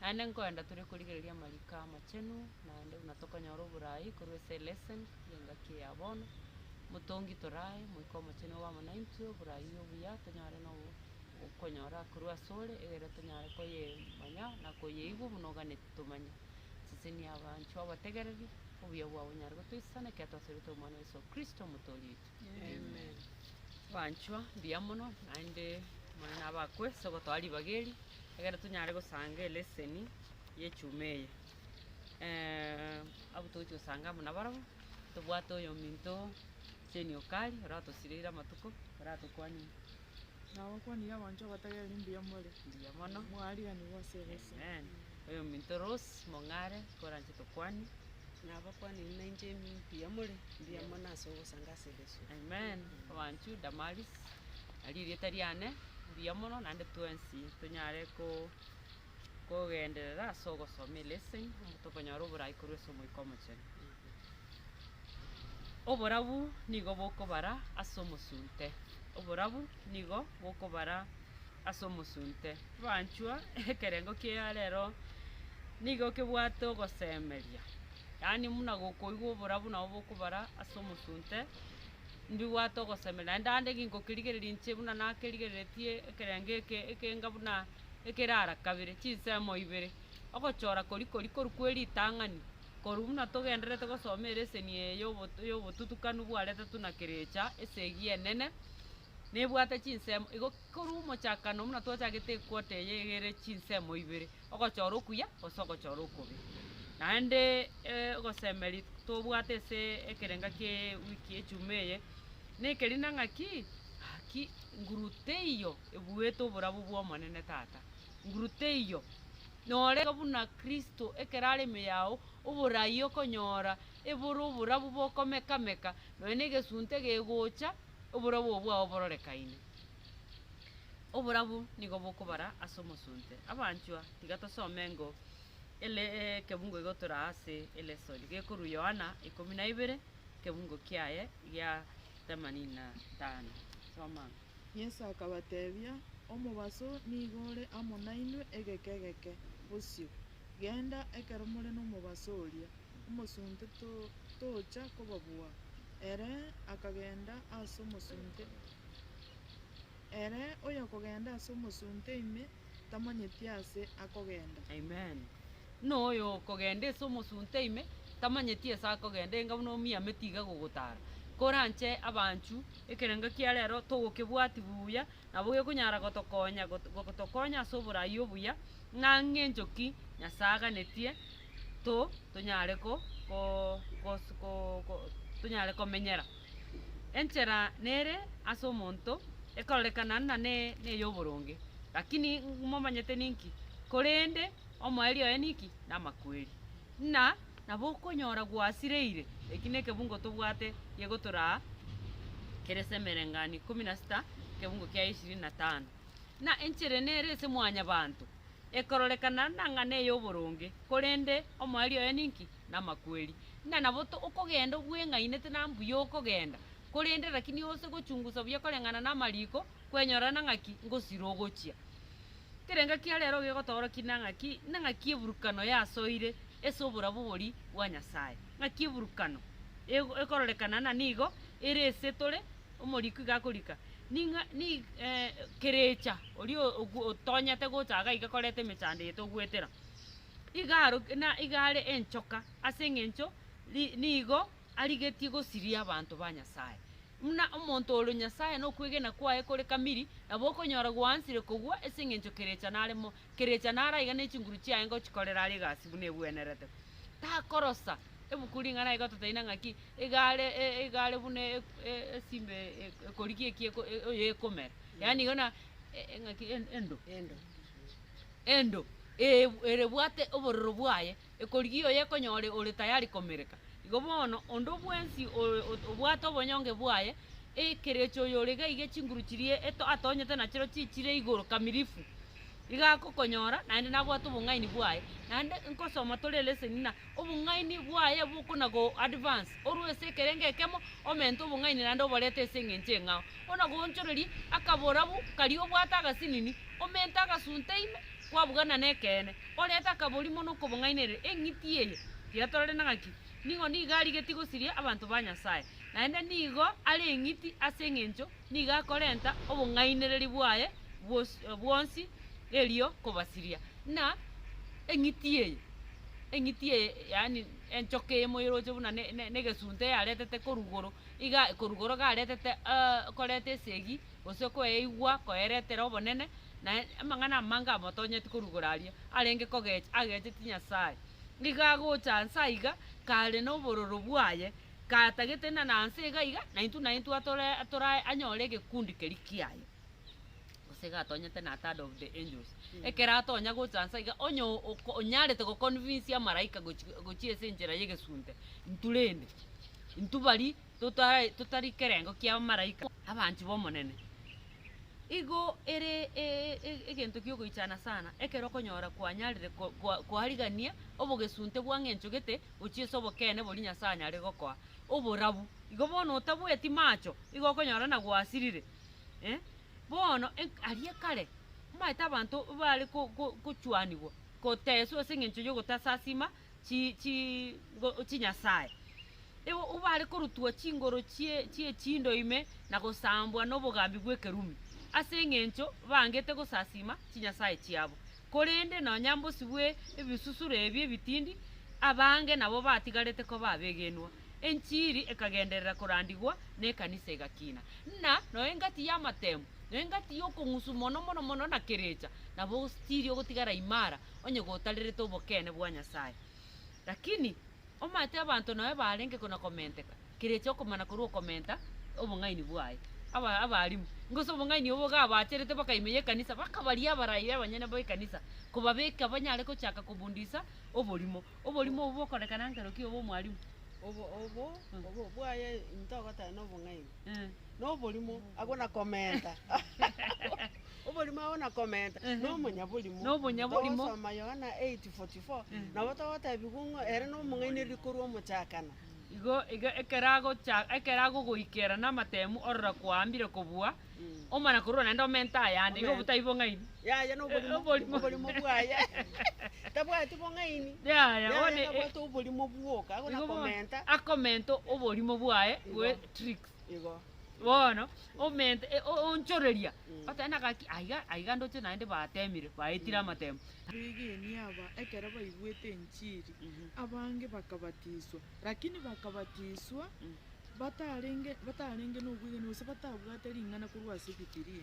Naende nkoenda tore korigereria amariko amachenu, naende buna tokonyora oboraai korwa ase lesson y'engaki eya bono. Motongi torae Moika Omochenu obe amo naintwe, oboraai obuya tonyare na okonyora korwa ase ore, egere tonyare koyemanya na koyeigwa buna oganete tomanye. Sesenia abanchwa obategereri, obuya bwabo bonyare gotoisana ekiagera twasorete Omwana o Yeso Kristo, Omotoori oito. Amen. Abanchwa mbuya mono naende Omonene nabe akwe ase ogotoa ribaga eri ekero tonyare gosanga elesson y'echuma eye. Eh, abwo togochia gosanga amo nabarabwo, tobwate oyominto Jane Okari oratosireire amatuko, oratokwanire. Nabakwanire abanto abatagera rimbuya more. Mbuya mono. Mwariganigwa ase ebeso. Amen. Oyo minto Rose mong'are koranche tokwane. Nabakwanire nainche mbuya more. Mbuya mono ase ogosanga ase ebeso. Amen. Abanchu Damaris, nario erieta riane. Mbuya mono naende twensi tonyare ko. kogenderera ase ogosoma eleseni, omonto okonyora oboraai korwa ase Omoika Omochenu. Oborabu nigo bokobara ase omosunte, oborabu nigo bokobara ase omosunte. Abanchwa, ekerengo kia rero nigo kebwate ogosemeria, yaani buna gokoigwa oborabu nabo bokobara ase omosunte, mbibwate ogosemeria. Naende ande ngokerigereria inche buna nakerigereretie ekerengo eke ekenga buna. ekerara kabere, chinsemo ibere, ogochora koria koria korwa kwe ritang'ani, korwa buna togendererete gosoma ereseni eye ya obotu ya obotutukanu bwaretetwe na kerecha esegi enene, nebwate chinsemo igo korwa omochakano buna twachagete equota eye iga ere chinsemo ibere, ogochora okuya gose ogochora okobe. Naendeee e- ogosemeria tobwate asee ekerenga kiaaa ewiki ejuma eye, na ekerina ng'aki, gaki nguru teiyo. ebuete oborabu bw'Omonene Tata. Nguru teiyo. Norenge buna Kristo ekero are ime yao, oborai okonyora ebore oborabu bokomeka-meka, nonya negesunte gegocha, oborabu obwo bwao bororekaine. Oborabu nigo bokobara ase omosunte. Abanchwa, tiga tosome engo ele ekebungo igotoraa ase elesoni gekorwa Yohana ikomi na ibere, ekebungo kiaye gia themanini na tano. Soma. Yeso akabatebia, Omobaso nigo ore amo nainwe egeka egeke. Bosio, genda, ekero more nomobaso oria, omosunte tocha kobabua. Ere akagenda as'omosunte. Ere oyokogenda as'omosunte ime, tamanyeti aase akogenda. Buna oyo okogenda ase omosunte ime, tamanyeti ase akogenda, enga buna omiame tiga gogotaara. Koranche abanchw, ekerengo kia rero togokebwati buya, nabo gekonyara gotokonya gotokonya ase oborai obuya, ng'a ngencho ki Nyasae aganetie to, tonyare ko, ko, gos, ko, ko, tonyare komenyera. Enchera nere ase omonto ekorerekana na ne, ney'oboronge, lakini ng- momanyete ninki? Korende omoerio oye ninki? Namakweri. Ng'a nabo okonyora gwasireire, eki nekebungo tobwate gegotoraa kere ase emerengani ikomi na sita, ekebungo kiaye ishirini na tano. Ng'a enchera nere ase mwanyabanto. ekororekana nang'ana ey'oboronge, korende omoerio oye ninki? Namakweri. Ng'a nabo okogenda obweng'ainete na mbuya okogenda, korende rakini ose gochungusa buya koreng'ana namariko, kwenyorana ng'aki ngosira ogochia. Kerenga kia rero gegotoorokia nang'aki? Nang'aki eburukano yasoire ase oborabu bori bwa Nyasaye? Ng'aki eburukano ekororekana na nigo ere ase tore Omorikwi gakorika, ning'a ni kerecha oria ogu otonyete gocha iga iga koreta emechando eye togwetera. Iga aro na iga are enchoka ase eng'encho ri nigo arigetie gosiria abanto ba Nyasaye. Muna omonto ore Nyasaye na okwegena kwaye kore kamiri, nabo okonyora gwansire kogwa ase eng'encho kerecha nare mo Kerecha naro aiga ne chinguru chiaye ngochikorera are egasi buna ebwenerete. Takorosa ebuku ring'ana aiga totaina ng'aki egare e- egare buna e- e- esimba e- e- ekorigia eki eko- e- oyo ekomera. Yaani igo na e- e- ng'aki en- endo. Endo. Endo, ee- bu- erebwate obororo bwaye Ekorigia oyo ekonyore ore tayari komereka. Igo bono, onde bwensi obwate obonyonge bwaye, ekerecha oyo ore gaige chinguru chiria atonyete nachiro chichire igoro kamirifu, igo agokonyora naende nabwate obong'aini bwaye. Naende nkosoma tore leseni ng'a obong'aini bwaye bokona go advance orwa ase ekerengo ekemo omente obong'aini naende oborete ase eng'encho eng'ao. Bono nagoonchoreria akaborabu karia obwate agasinini, omente agasunte ime, kwabugana nekeene, orete akabori mono okobong'ainereria eng'iti eye tiatorerete na ng'aki, nigo nigo arigetie gosiria abanto ba Nyasae, naende nigo are eng'iti ase engencho nigo akorenta obong'ainereria bwaye bwonsi erio kobasiria. Ng'a eng'iti eye, eng'iti eye yaani enchoka eye moyeroche buna ne- ne- negesunte yaretete korwa igoro, iga korwa igoro garetete koreta esegi. gose koeigwa koeretera obonene, na amang'ana amange amotonyeti korugora aria arenge kogecha agecheti Nyasae. Nigo agocha anse aiga kare nobororo bwaye, katagete na nanse iga iga, naintwe naintwe atore atore aye anyore egekundi keria kiaye. Gose iga atonyete na third of the angels. Ekero atonya gocha anse iga onye o- oko- onyarete go convince amaraika gochi gochia ase enchera y'egesunte, intwe rende, intwe baria. totari kerengo kia abamaraika abanchwa b'Omonene. Igo ere egento gi'ogoichana sana ekero okonyora kwanyarire koarigania obogesunte bwa ng'encho gete gochia ase obokeene boria Nyasae anyare gokoa oborabu. Igo bono otabweti macho igo okonyora na gwasirire. Bono aria kare omanyete abanto mbare gochwanigwa, goteswa ase eng'encho y'ogotasasima chi, chi, ngo, chinyasae. Igo bare korutwa chingoro chie, chie chindo ime na gosambwa nobogambi bw'ekerumi, ase engencho baangete gosasima chinyasae chiabo. Korende nonya mbosio bwe ebisusuro ebi ebitindi, abange nabo batigarete koba abegenwa, enchiri ekagenderera korandigwa, na ekanisa egakina. Buna noe engati y'amatemo, noe engati y'okong'usu mono mono mono na kerecha, nabo ogostiria ogotigara imara onye gotarerete obokeene bwa Nyasae. Lakini omanyete abanto nao ebarenge na komenteka, kerecha okomana korwa okomenta obong'aini bwaye. Aba abarimu, ngose obong'aini obo gabacherete bakaime y'ekanisa, bakabaria abarai b'abanyene b'ekanisa, kobabeka banyare gochaka kobundisa oborimo. Oborimo obo bokorekana nkero ki obo omwarimu? Obo obo obo bwaye intogoteba nobong'aini. noborimo, agwo na komenta, oborimo agwo na komenta, nomonyaborimo. Nomonyaborimo. Togosoma Yohana 8:44, nabo togotebigwa ng'a ere nomong'ainereria korwa omochakano. Igo iga ekero agocha ekero agogoikera namatemu orora kwaambire kobua, omana korwa naende omente ayande, igo Omenta. botaibo ng'aini. Yaya noborimo, Oborimo. oborimo bwaye tabwati bong'aini. Yaya, Yaya bono, eh, nabwate oborimo bwoka, igo igo bono, nakomenta. akomenta oborimo bwaye Igo. bwe tricks. Igo. bono omente e- o- onchoreria Mm. oteba na gaki aiga aiga ndoche naende batemire baetire amatemo Begenia aba ekero baigwete enchiri, Mhm. abange bakabatiswa. Lakini bakabatiswa batarenge batarenge nobwegeni gose batabwate ring'ana korwa ase Bibilia.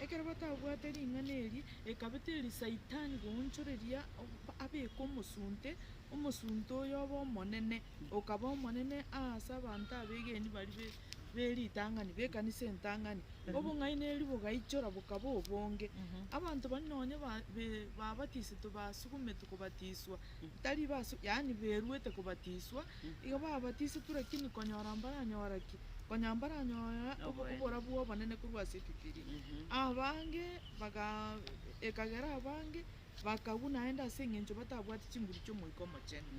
Ekero batabwate ring'ana eri, ekabete eri Saitani goonchoreria ob- abeke omosunte, omosunte oyo obe omonene, okaba omonene aase abanto abegeni baria be- beritang'ani, b'ekanisa entang'ani. Obong'aini erio bogaichora bokaba obonge. Abanto baria nonye ba- be- babatisetwe basugumetwe kobatiswa. tari basu, yaani beruete kobatiswa, iga babatisetwe, lakini konyora mbaranyore ki? Konya mbaranyore oborabu bw'obonene korwa ase ebibilia. Abange baga ekagera abange bakagwa naende ase eng'encho batabwati chinguru chi'Omoika Omochenu.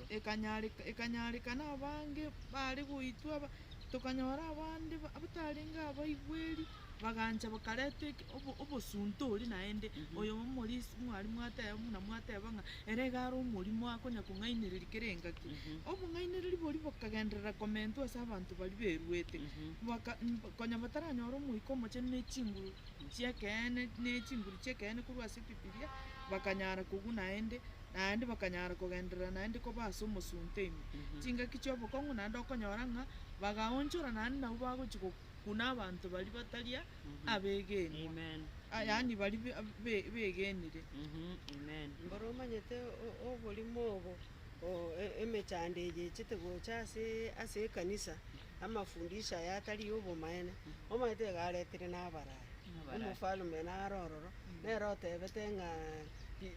Ekanyareka ekanyarekana abange bare goitwa, tokanyora abande batarenge abaigweri. bagancha bakareta eke obo- obosunte oria naende, oyo omorisia mwari mwateba buna mwateba ng'a ere iga are omorimo akonya kong'ainereria kera engaki. Obong'ainereri boria bokagenderera komentwa ase abanto baria beruete, baka mba konya bataranyora omoika omochenu ne chinguru chi'ekeene ne chinguru chi'ekeene korwa ase ebibiria, bakanyara kobua naende, naende bakanyara kogenderera naende koba ase omosunte ime. Chingaki chi'obokong'u naende okonyora ng'a bagaonchora naende nabo bagochi go. buna abanto baria batari abegenwa, yaani baria begenire. Mboro omanyete oborimo obo, emechando eye echete gocha ase ekanisa, amafundisho aya atari ay'obomaene, omanyete iga aretire na abarani. Omofalme naro ororo, nere otebete ng'a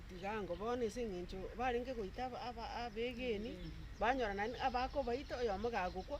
tiga ango bono ase eng'encho barenge goita abegeni, banyora naende abakobaita oyomo gagokwa,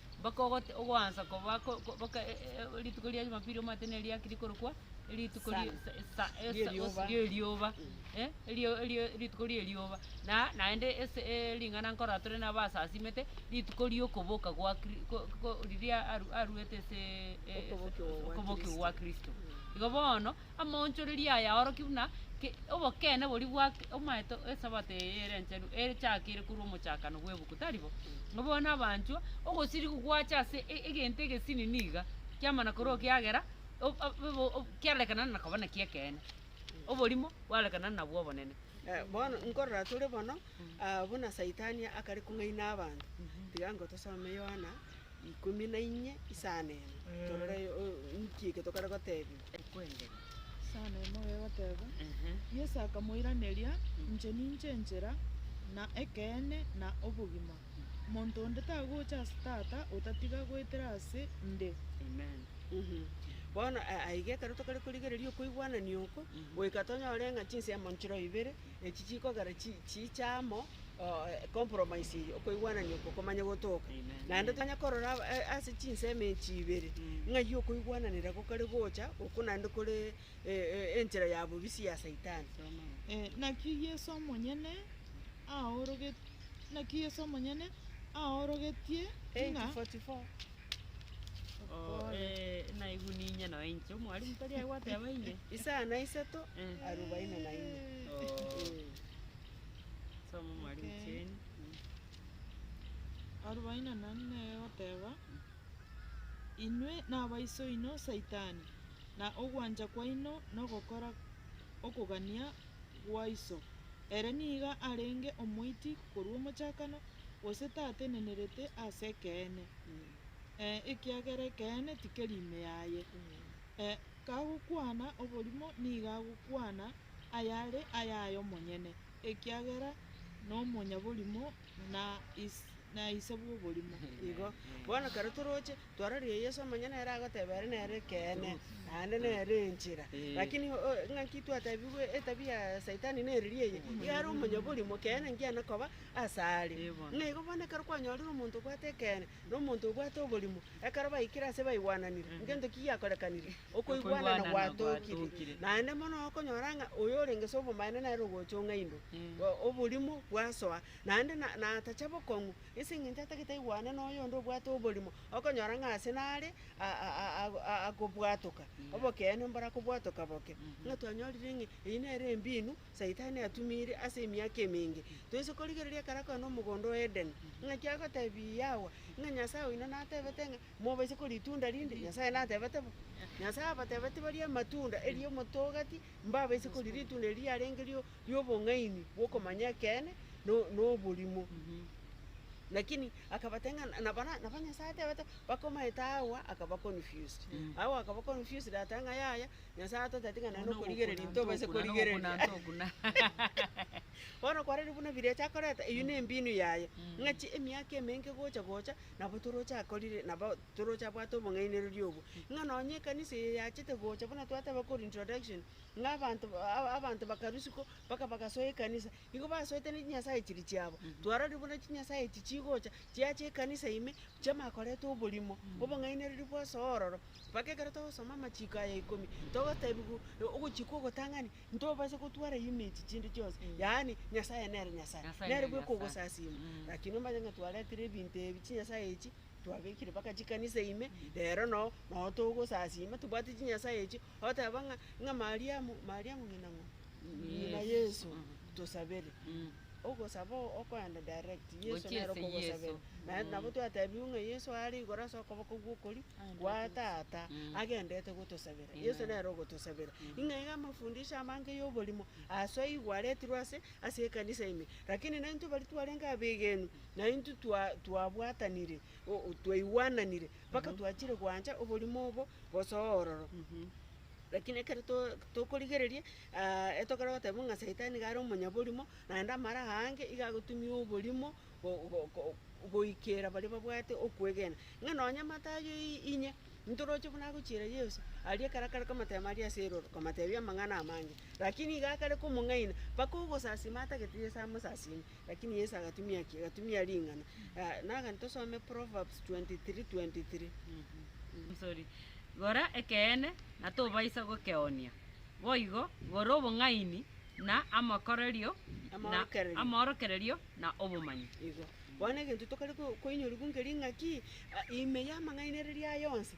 mpaka ogote- ogoansa koba ko- ko- boka e- e- e- rituko ria Jumapili omanyete neri riaki rikorokwa, erituko ri- Sana. sa- esa- esa- Rierioba. rierioba, eh, erio- erio rituko rierioba. Na naende ase e- ring'ana nkorora tore naba asasimete, rituko riokoboka gwa Kri- ko- ko- riria aru- aruete ase e- e- Okobokigwa gwa okobokigwa gwa Kristo. Igo bono, Amaonchoreria aya aorokia buna ki obokeene boria bwa omaete Esabato eye ere enchenu echakeire korwa omochakano bw'ebuku, tari bo? Ng'a bono abanchwa, ogosirigwa gwache ase e- egento egesinini iga, kiamana korwa ekiagera o- o- obo- o- kiarorekanana na koba nakio ekeene. Oborimo bwarorekanana nabwo obonene. Eh, bono nkorora tore bono, ah, buna Saitani akare kong'aina abanto, tiga ngotosome Yohana ikomi na inye isano emo, torore o- nki eke tokare gotebiwa. ekwengeria. Sana ime oyegoteeba. Yeso akamoiraneria, Inche ninche enchera, na ekeene, na obogima. Monto onde tagocha ase Tata otatiga goetera ase 'nde. Amen. Bono aiga ekero tokare korigereria okoigwanania oko, goika tonyore ng'a chinsiamo nchiroibere echi chikogera chiiche amo, compromise eye, okoigwanania okwo komanye gotoka. Naende tonyare korora aba- e- ase chinsemo echi ibere, ng'ai okoigwananera gokare gocha, oko naende kore e- e- enchera ya bobisia ya saitani. Eh, naki Yeso omonyene aoroget naki Yeso omonyene aorogetie ng'a 8:44. Oh, eh, naigu ninye nonye inche omwalimu tari aye gwateba inye. Isana isato, Eh. arubaini na ine. Oh. Eh. Soma, mwalimu Okay. Jane. Mm. Arobaini na nane nere egoteba, Inwe nabaiso oino Saitani, na ogwancha kwaino nogokora okogania gwa iso, ere nigo arenge omoiti korwa omochakano, gose tatenenerete ase ekeene, Mm. eh, ekiagera ekeene tikeri ime yaye. Mm. Eh, Kagokwana oborimo nigo agokwana ayare ayaye omonyene, ekiagera nomonyaborimo na na ise bw'oborimo. Igo bono ekero toroche twororie Yeso amang'ana nere agoteba ere nere ekeene, naende nere enchera. Lakini o- o- ng'aki twatebigwe etabia ya saitani neriria eye, iga are omonyaborimo, ekeene ngiana koba asare. Buna igo bono ekero kwanyorire omonto obwate ekeene, Nomonto obwate oborimo. Ekero baikire aase baigwananire ngento ki giakorekanire, okoigwanana gwatookire. Naende mono okonyora ng'a oyo orenge s'obomaene nere ogochong'a indo, oborimo bwasoa. Naende na natacha bokong'u, ase eng'encho atagete aigwane noyonde obwate oborimo, okonyora ng'a aase nare akobwatoka obokeene mborakobwatoka boke. Buna twanyorire ng'a eyio nere embinu Saitani atumire ase emiaka emenge, toise korigereria ekero akoenda omogondo o Edeni, ng'aki agotebirie Hawa, ng'a Nyasae oino natebete ng'a, Mobaise koria ritunda rinde? Nyasae natebete bo. Nyasae abatebetie barie amatunda, erio omote o gati, mbabaise koria ritunda erio riarenge rio ri'obong'aini bw'okomanya ekeene na na oborimo. Lakini akabatebia ng'a na- nabo na- nabo Nyasae atebete bakomaete Hawa akaba confused. Hawa akaba confused ateba ng'a yaya, Nyasae atotebeti ng'a nonye nokorigereria intwe obase korigereria. Bono kwarorire buna birecha akoreta, eyio nembinu yaye, ng'a chi emiaka emenge gocha gocha, nabo toroche akorire, nabo toroche abwate obong'ainereria obwo. Ng'a nonye ekanisa eye yachete gocha buna twateba korwa introduction, ng'a abanto ba- a- abanto bakarusiwa ko, mpaka bagasoa ekanisa, Nigo basoete ne chinyasae chiria chiabo. Twarorire buna chinyasae echi chigocha, chiacha ekanisa ime, chama koreta oborimo, obong'ainereria bwose ororo. Mpaka ekero togosoma amachiko aya ikomi, togotebiwa ogochia kw'ogotang'ani, ntobasa gotwara ime echi chinde chionsi, yaani Nyasae nere Nyasae, Nyasae nere nere bwe Nyasae. kogosasiima. Mm. Lakini omanye ng'a twaretire ebinto ebi chinyasae echi, twabekire mpaka chikanisa ime, rero no, no togosasiima, tobwati chinyasae echio, Oteba ng'a, ng'a Mariamu, Mariamu ng'ina ng'o? Ng'ina Yesu, tosabere. Ogosaba oo okoenda direct, Yesu Gochia nere ase okogosabera. Yeso. Naende nabo twatebiwe ng'a Yeso are igoro ase okoboko gw'okorio gwa Tata, agenderete gotosabera. Yeso nere ogotosabera. Ng'a iga amafundisho amange y'oborimo aso aigwe aretirwe ase, ase ekanisa ime. Lakini naintwe baria twarenge abegeni, naintwe twa- twabwatanire, o- o twaigwananire, Mpaka twachire gwancha oborimo obo gosoa ororo. Lakini ekero to- tokorigereria, ah, etogora goteba ng'a Saitani iga are omonyaborimo, naende amara aange iga agotumia oborimo go- go- go- goikera baria babwate okwegena. Ng'a nonye matayo i- inye, ntoroche buna agochiera Yeso, aria ekero akare komoteema aria ase erooro, komoteebia amang'ana amange. Lakini iga akare komong'aina, mpaka ogosasima atagete Yeso amosasime. Lakini Yeso agatumia ki? Agatumia ring'ana. Ah, nagani tosome Proverbs 23:23. Sorry. Gora ekeene, na tobaisa gokeoonia, boigo gora obong'aini, na amakorerio, na Amaorokererio. amaorokererio, na obomanyi. Igo. Bono egento tokare ko- koinyorigwa nker'ing'aki, ah, ime y'amang'ainereria aya onsi,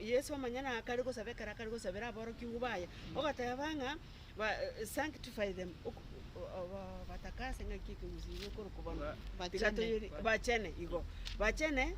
Yeso manya nakare gosaba ekero akare gosabera aborokigwa baye, ogoteeba ng'a, Sanctify them, obatakase, ng'aki ekegusii ekio gikorokwa bono? Bachene. Bachene, igo. Bachene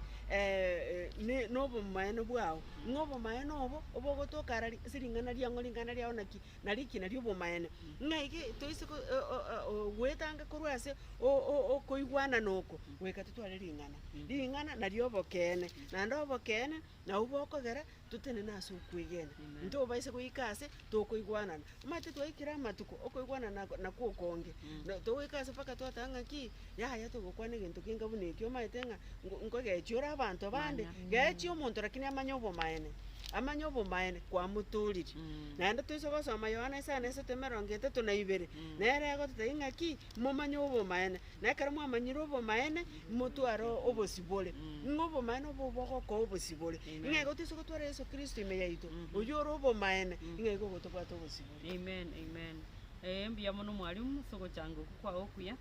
ne- nobomaene bwao, ng'a obomaene obo, obogotoka ara ase ring'ana riang'o, ring'ana riao naki? na rikina ri'obomaene. Ng'ai ki toise go- o- o- o- o- goetanga korwa ase o- o- okoigwanana oko, goika totware ring'ana? Ring'ana nario obokeene, naende obokeene nabwo bokogera totenene ase okwegena. Ntobaise goika ase tokoigwanana. Omanyete twaikire amatuko, okoigwanana nakwo okonge, na togoika ase mpaka twateba ng'aki. Yaya togokwana egento kenga buna ekio, omanyete ng'a ngo- nkogechi ore abanto abande, Mana. gechi omonto lakini amanye obomaene, amanye obomaene kwamotooriri. Naende toise gosoma Yohana isano esato emerongo etato na ibere, nere egototebia ng'aki, momanye obomaene, na ekero mwamanyire obomaene, motware obosibore. Ng'a obomaene obo bogokoa obosibore. Amen. Ng'a igo toise gotwara Yeso Kristo ime yaito, oyio ore obomaene, ng'a igo ogotobwate obosibore. Amen, amen. Eeh, mbuya mono mwalimu, ase ogochanga okwo kwao okuya.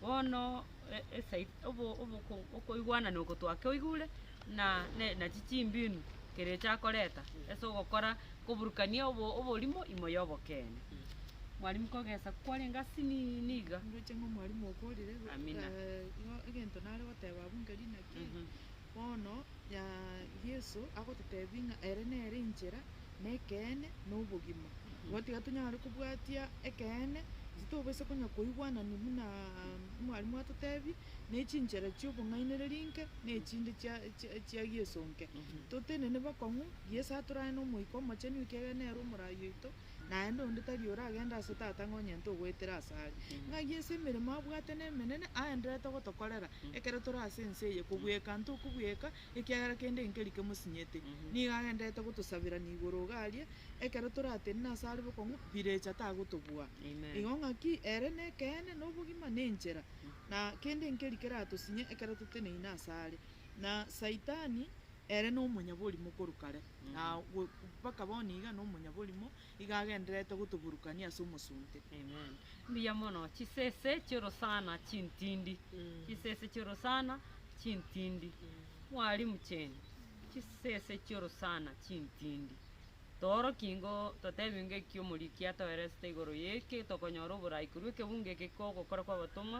Bono esegi obo oboko okoigwana na ogotwa kioigure, na ne nachi chimbinu kerecha akoreta ase ogokora koburukania obo oborimo imo ya obokeene. Mwarimu kogesa kwarenge asiniini niga. Ndoche ng'a omwarimu okwo orire, Amina. eh, igo egento nare goteba abwo nkeri naki. Bono Yeso agototebia ng'a ere nere enchera, na ekeene, na obogima. Igo tiga tonyare kobwatia ekeene, gose tobisa konya koigwanani buna mwarimu atotebie, ne chinchera chi'obong'ainereria inke, na echinde chia chia Yeso inke. Totenene bakong'u, Yeso atorane na Omoika Omochenu ekiagera nere Omorai oito. naende onde tari oragende ase Tata ng'a onyente ogoetera ase are. Ng'ai ase emeremo abwate nemenene aenderete gotokorera ekero tore ase ense eye, kobweka nto okobweka ekiagera kende nkeri kemosinyiete. Nigo agenderete gotosaberania igoro iga aria, ekero toratenene ase are bokong'u, birecha tagotobua. Igo ng'aki ere nekeene, nobogima, na enchera, na kende nkeri keratosinye ekero toteneine ase are. Na Saitani ere nomonyaborimo korwa kare. na go- mpaka bono iga na omonyaborimo, iga agendererete gotoburukania ase omosunte. Amen. Mbuya mono chisese chiorosana chintindi chisese chiorosana chintindi mwalimu cheni chisese chiorosana chintindi tooroki ingo totebi ingo eki omoriki atoeresete igoro yeki tokonyora oborai korwa ekebungo eke kio ogokora kwa abatomwa.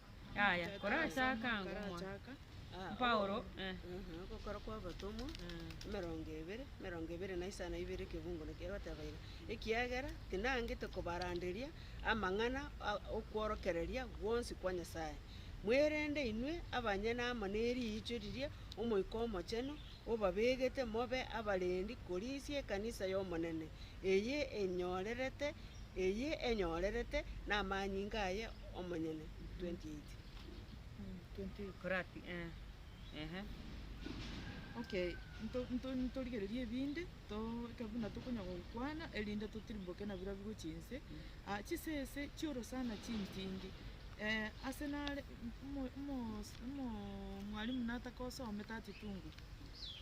Yaya, korachaaka ango mono. Korachaaka, ah, Paulo, obo- eh. Mhm, ogokora kw'abatomwa, emerongo ebere, emerongo ebere na isano na ibere ekebungo na kere bateba iga, Ekiagera tinangete kobaranderia amang'ana a- okworokereria gwonsi kwa Nyasaye, mwerende inwe abanyene amo neriicho riria Omoika Omochenu obabegete mobe abarendi korisia ekanisa y'Omonene, eye enyorerete eye enyorerete namanyinga aye omonyene, 28. Koraki, eh, ehe. Okay, nto- nto- ntorigererie ebinde, toike buna tokonya gokwana, erinde totirimboke na bira bigochia inse. Ah, chisese chi'orosana chintindi, eh, ase nare omo- omo- omos- omo- mwalimu natakosomete atitungue.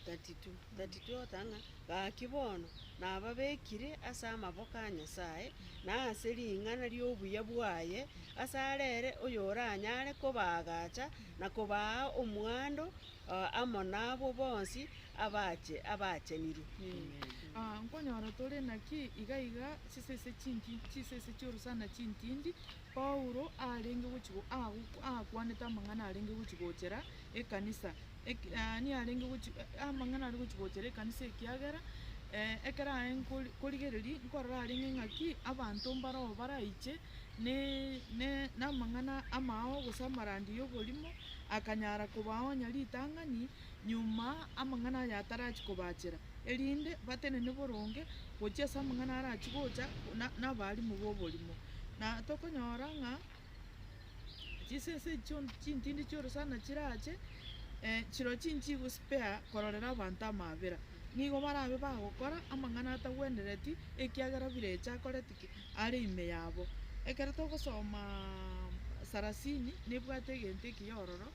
32. Tatitotana, gaki bono nababekire ase amaboko a Nyasae, na ase ring'ana ri'obuya bwaye, ase are ere oyoranyare kobaagacha na kobaa omwando amo nabwo bonsi abache abaachenire. Nkonyora tore naki iga iga chisese chinki, chisese chi'orosana chintindi, Paulo arenge gochi aakwanete amang'ana arenge gochi gochera ekanisa, yaani arenge gochi amang'ana are gochi gochera ekanisa ekiagera ekero aye nkorigereria nkorora arenge ng'aki abanto mbaroo baraiche namang'ana amao gose amarandi y'oborimo, akanyara kobaonya ritang'ani. nyuma amang'ana aya atarachia kobachera, erinde batenene boronge gochia ase amang'ana arachia gocha nabarimu boborimo. Na tokonyora ng'a chisese echi chionsi chintindi chionsi sana chirache, chiro chinchii gospare kororera abanto amaabera, nigo barabe bagokora amang'ana atagwenereti, ekiagera bire echa akoreti ki? Are ime yabo. Ekero togosomaa sarasini, nebwate egento ekiya ororo.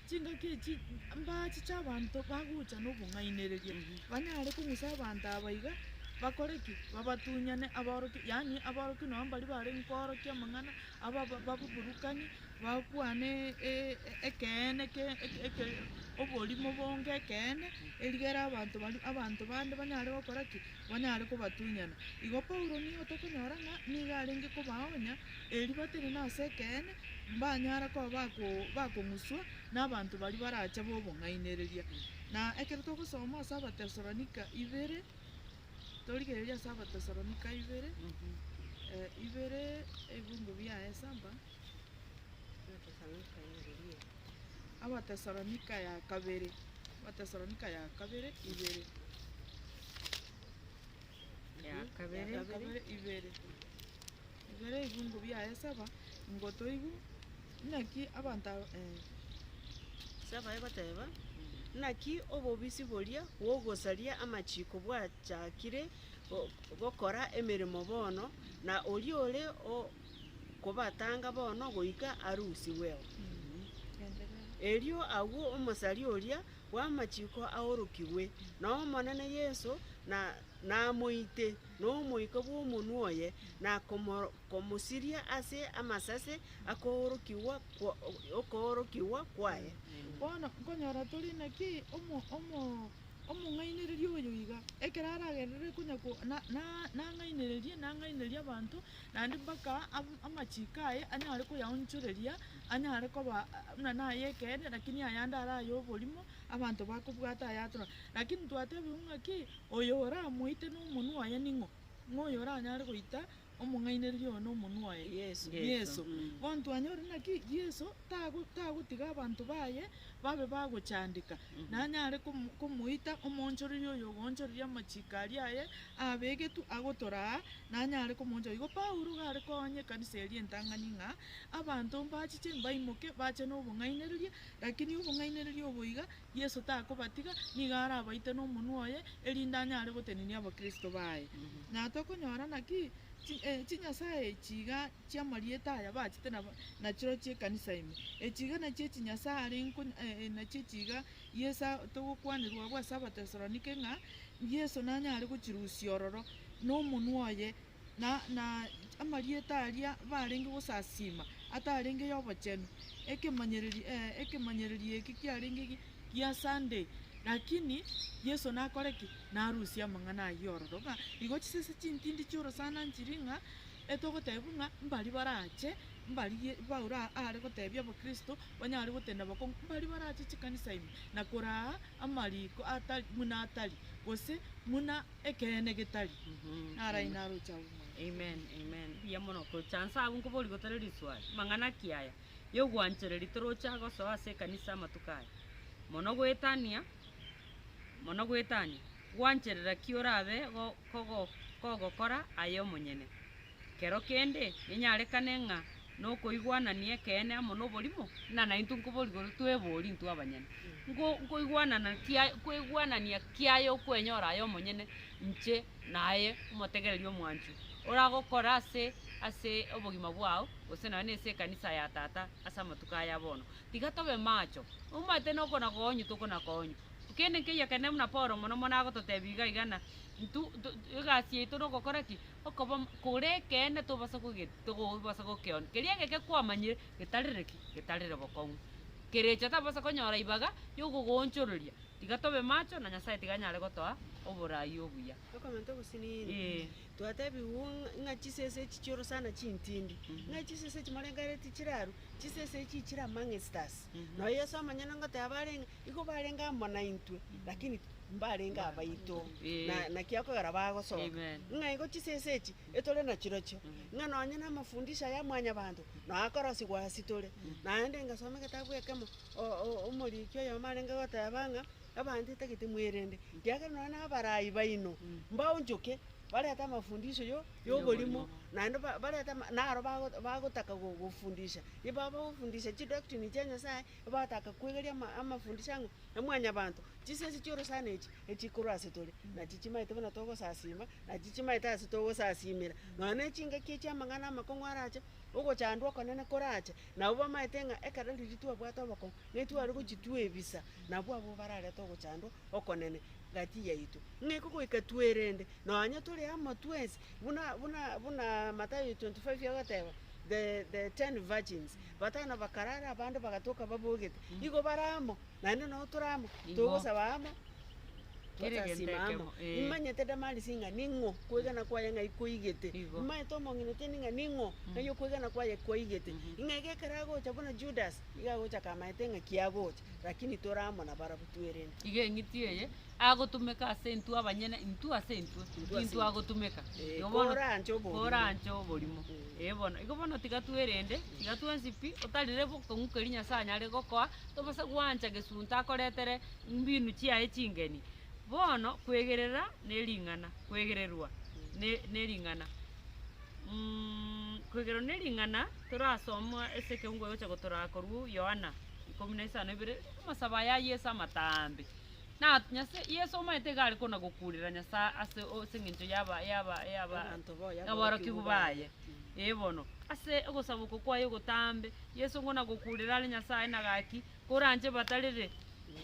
Chingaki echi mbaache chi'abanto bagocha nobong'ainereria, banyare kong'usa abanto aba iga bakore ki? Babatunyane abaorokia, yaani abaorokia nonya mbaria barenge koorokia amang'ana, aba bababurukanie, bakwane ekeene eke oborimo bonge ekeene, erigere abanto baria abanto bande banyare gokora ki? Banyare kobatunyana. Igo Paulo nigo tokonyora ng'a nigo arenge kobaoonia. Erio batebe, Nase ekeene, mbanyare koba bakong'uswa nabanto baria barache b'obong'ainereria. Na ekero togosoma ase Abatesalonika ibere, torigereria ase Abatesalonika ibere, ibere, ebingo biaye saba, Abatesalonika ya kabere, Abatesalonika ya kabere ibere, ya kabere ibere. Igoro ebiungo biaye saba, ngotoigwe, Naki abanto aba, eh. Ase abaye bateba, Naki obobisi boria bw'ogosaria amachiko bwachakire gokora emeremo bono, na oria ore kobatanga bono goika arusigweo. Erio agwo omosaria oria bw'amachiko aorokigwe, na Omonene Yeso namoite. nomoika bw'omonwa oye, na komosiria ase amasase akoorokigwa okoorokigwa kwaye. Bono nkonyora tore naki omong'ainereria oyo iga, ekero aragererere konya ko na na nang'ainererie nang'ainererie abanto, naende mpaka amachiko aye anyare koyaonchoreria, anyare koba buna naye ekeene, lakini ayande ara aye oborimo, Abanto bakobwata ayatura, lakini twatebigwe ng'a ki? Oyo oramoite nomonwa oye ning'o? Ng'o oyo oranyare goita omong'ainereria oyo nomonwa oye? Yeso. Yeso. Bono twanyore naki? Yeso tago, tagotiga abanto baye babe bagochandeka. Nanyare komo, komoita omoonchoreria oyo ogoonchoreria amachiko aria aye abegetwe agotora aa, nanyare komoonchora. Igo Paulo gare koonya ekanisa eria entang'ani ng'a, Abanto mbachiche, mbaimoke, bache nobong'ainereria, Lakini obong'ainereria obo iga, Yeso takobatiga, nigo arabaite nomonwa oye, erinde anyare gotenenia Abakristo baye. Na tokonyora naki? Chinyasae echi iga chi'amarieta aya bachete na chirochio ekanisa ime. Echi iga nachio echinyasae arenko, nachio echi iga Yeso togokwanerwa abwo ase Abatesalonike ng'a Yeso nanyare gochirusia ororo nomonwa oye na amarieta aria barenge gosasiima atarenge y'obochenu. Ekemanyereri, ee, ekemanyereri eke kiarenge gia Sunday. Lakini Yeso nakore ki? Narusie amang'ana ayio ororo, ng'a igo chisese chintindi chi'orosana nchiri ng'a etogotebiwa ng'a mbari barache, mbari Ye, Paulo aare gotebia abakristo banyare gotenda bakong'u, mbari barache chikanisa ime, na koraa amariko atari, buna atari, gose buna. Ekeene getari, naraina aroche agwo mwanyabanto. Amen amen buya mono gocha nse agwo nkoborie gotari riswali mang'ana ki aya yogwanchereri torocha gosoa ase ekanisa amatuko aya mono goetania mono goetania gwancherera ki orabe go kogo kogokora aye omonyene. Kero kende nenyarekane ng'a nokoigwanania ekeene amo noborimo, na naintwe nkoborigoro twebori intwe abanyene. Nko nkoigwanana kia koigwanania kiaye okwenyora aye omonyene inche naye omotegereri omwanchwa, oragokore ase ase obogima bwao, gose nonya nase ekanisa ya tata ase amatuko aya bono. Tiga tobe macho, omanyete noko nakonywa tokona konywa. Kende nkeiyo ekero ne buna Paulo mono mono agototebi iga iga ng'a ntu ntu egasi yaito nogokora ki. Okoba kore ekeene tobasa kogeti, togobasa gokeona, keria egeke kwamanyire getarire ki? Getarire bokong'u. Kerecha tabasa konyora ibaga yogogoonchororia, tiga tobe macho na Nyasae tiga anyare gotoa oborai obuya. Okomenta obosini inee? Ee. Twatebigwe ng'a chisese echi chioro sana chintindi, ng'a echisese echi morengereretie chiraru, chisese echi chire amang'esitasi. Noyo Yeso omonyene ngoteba arenge, Igo barenge amo naintwe, lakini mbarenge abaito. Na naki okogera bagosoka, ng'a igo chisese echi etore nachirochio, ng'a nonye namafundisho aya mwanyabanto nao akorosigwa ase tore. Naende ngasoma egetabu ekemo omoriki oyomo arenge goteba ng'a abanto etagete mwerende, ekiagera nonye nabarai baino mbaonchoke barente amafundisho yo yoborimo, naende ba- barente naro bago- bagotaka gofundisha. Nigo bagofundisha chidoctrine chia Nyasaye, Bagotaka kwegeria amafundisho ang'o na Mwanyabaanto? Chisesi chi'orosana echi echiri korwa ase tore, nachi chimaete buna togosasiima, nachi chimaete ase togosasiimera, nonya nechingaki echi amang'ana amakong'u arache, ogochandwa okonene korache, nabo bamaete ng'a ekero riria twabwate obokong'u, netware gochia twebisa, nabwo abwo bararete ogochandwa okonene gati yaito. Ng'eko goika twerende, nonya tore amo twensi, buna buna buna Mathayo twenty five egoteba, the the ten virgins. Batano bakarara, abande bagatoka babogete. Igo bare amo, naende nao tore amo, togosaba amo, totasima amo. Nimanyete Damarisi ng'a ning'o kwegena kwaye ng'ai kwaigete, nimanyete omong'ina otieneti ng'a ning'o ng'ai okwegena kwaye kwaigete, ng'a iga ekero agocha buna Judasi, nigo agocha akamaete ng'a ki agocha. Lakini tore amo nabarabwo twerende. Iga eng'iti eye agotumeka ase intwe abanyene, intwe ase intwe, Intwe ase intwe agotumeka. Eh, Igo bono- kore anche oborimo. Kore anche oborimo. Eh, bono, igo bono tiga twerende, tiga twensi pi, otarire bokong'u keria Nyasae anyare gokoa, tobasa gwancha gesunte akoretere mbinu chiaye chingeni. Bono, kwegerera nering'ana, kwegererwa ne- nering'ana. Kwegererwa nering'ana, torasoma ase ekeungo egocha gotoraa korwa Yohana. ikomi na isano ebere, amasabo aya a Yeso amatambe. Na Nyasa- Yeso omanyete iga are kona gokuurera Nyasae ase o- ase eng'encho yaba- yaba- yaba- Abanto baye, aborokigwa baye. Ee bono, ase ogosaba oko kwaye ogotambe, Yeso kona gokuurera are Nyasae na gaki, koranche batarere,